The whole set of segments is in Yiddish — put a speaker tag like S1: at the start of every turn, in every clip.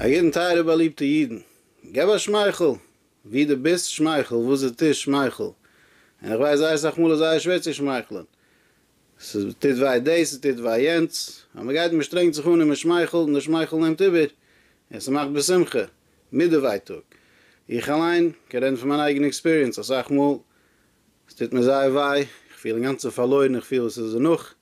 S1: א ידען טייערע באליבטע ידען, געב א שמייכל, ווי די ביסט שמייכל, וואס די טוסט שמייכל, און איך ווייס זייער סאך מאל איז זייער שווער צו שמייכלען, ס'טוט וויי דאס, ס'טוט וויי יענץ, אבער מען גייט מען שטרענגט זיך אן און מען שמייכלט און די שמייכל נעמט איבער און ס'מאכט בשמחה מיט די ווייטאג, איך אליין קען רעדן פון מיין אייגענע עקספיריענס, אסאך מאל ס'טוט מיר זייער וויי, איך פיל אינגאנצן פארלוירן, איך פיל וואס איז דערנאך,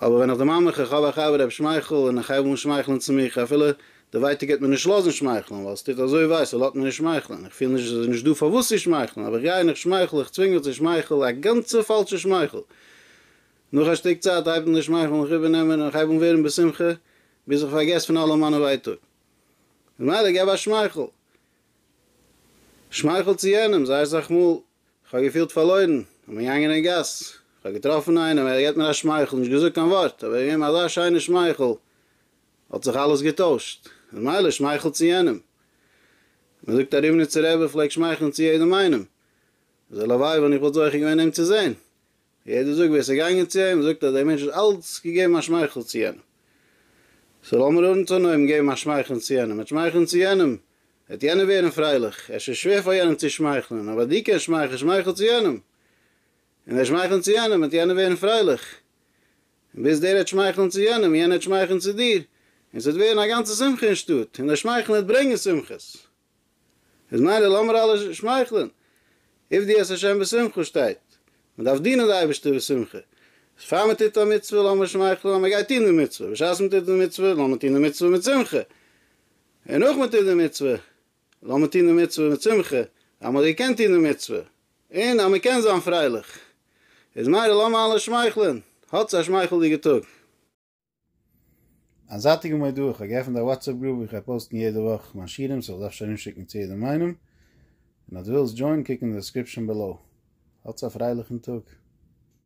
S1: אבער ווען איך דערמאן מיך איך האב א חבר ר' שמייכל און איך הייב אן שמייכלען צו מיך אפילו די ווייטאג העט מיר נישט לאזן שמייכלען ווייל ס'טוט אזוי וויי ס'לאט מיר נישט שמייכלען איך פיל נישט עס איז נישט דא פארוואס צו שמייכלען אבער איך גיי און איך שמייכל איך צווינג מיך צו שמייכל א גאנצע פאלשע שמייכל נאך א שטיק צייט הייבט מען די שמייכלען זיך איבערנעמען און איך הייב אן ווערן בשמחה ביז איך פארגעס פון אלע מיינע ווייטאג ממילא געב א שמייכל שמייכל צו יענעם זייער סאך מאל כ'האב געפילט פארלוירן, כ'בין געגאנגען אין גאס, כ'האב געטראפן איינעם, ער געט מיר א שמייכל, נישט געזאגט קיין ווארט, אבער געגעבן אזא שיינע שמייכל, האט זיך אלעס געטוישט, איז מילא שמייכל צו יענעם, מ'זאגט א ריבניצער רבי פלעגט שמייכלען צו יעדעם איינעם, איז הלוואי ווען איך וואלט זוכה געווען אים צו זען, יעדער זאגט ווער עס איז געגאנגען צו אים, זאגט אז דער מענטש האט אלץ געגעבן א שמייכל צו יענעם. סאו לאמיר אנטנויבן געבן א שמייכלען צו יענעם, מיט שמייכלען צו יענעם וועט יענער ווערן פרייליך, עס איז שווער פאר יענעם צו שמייכלען, אבער דו קענסט שמייכלען, שמייכל צו יענעם, און ווען שמייכלען צו יענעם וועט יענער ווערן פרייליך, און ביז דער העט שמייכלען צו יענעם, יענער העט שמייכלען צו דיר, און עס וועט ווערן א גאנצע שמחה אין שטאט, און דער שמייכלען וועט ברענגען שמחות. איז מילא לאמיר אלע שמייכלען, עבדי את השם בשמחה שטייט, מען דארף דינען די אייבערשטער בשמחה, אז פאר מען טוט א מצוה לאמיר שמייכלען אז מען גייט טון די מצוה, בשעת מען טוט די מצוה לאמיר טון די מצוה מיט שמחה, און נאך מען טוט די מצוה לאמיר טון די מצוה מיט שמחה, אז מען האט געקענט טון די מצוה, און אז מען קען זיין פרייליך, איז מילא לאמיר אלע שמייכלען, האטס א שמייכלדיגע טאג. א זייטיגע מודעה, איך האב געעפנט א וואטסעפ גרופ ווי איך גיי פאוסטן יעדע וואך מיין שירים, סאו דארפסט ארומשיקן צו יעדעם איינעם, און אז דו ווילסט דזשוינען קוק אין די דעסקריפשאן בעלאו. האטס א פרייליכן טאג!